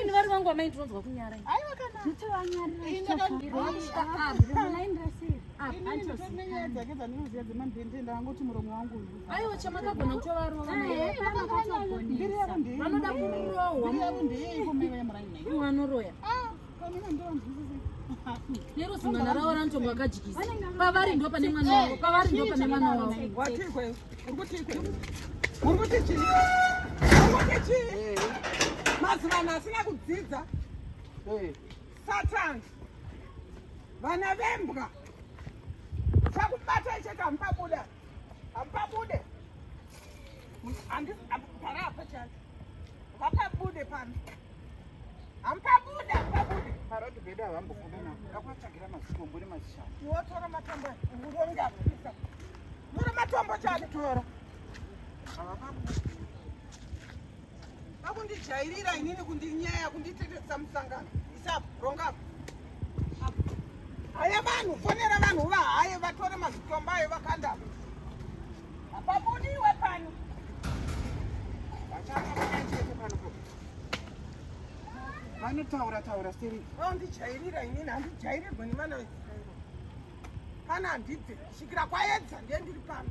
ini vari vangu amai ndinonzwa kunyara ndangoti muromo wangu aiwa chamakagona kutovarova vanoda kurohwa vanoroya nero zimwana ravo ranotonga vakajikisa pavari ndo pane mwana wavo pavari ndo pane mwana wavo mazivano asina kudzidza satan vana vembwa chakubatai chekamupabuda Hamupabude. Gara apa chani. Hapabude pano. Hamupabude, hamupabude. Parodi bedu havambobude navo. Ndakuvatsvagira mazikombo nemazishanu. Wotora matombo uronge apisa. Tora matombo chani tora. Havapabude. Vakundijairira inini kundinyaya kunditetesa musangano. Isapo, ronga. Haya vanhu, fonera vanhu vahaye vatore mazvitombo ayo vakanda. Hapabudiwe pano. Vachaka vakachete pano po. Vanotaura taura seri. Vandijairira inini handijairirwe nevana vechisairo. Kana handibve, svikira kwaedza ndiye ndiri pano.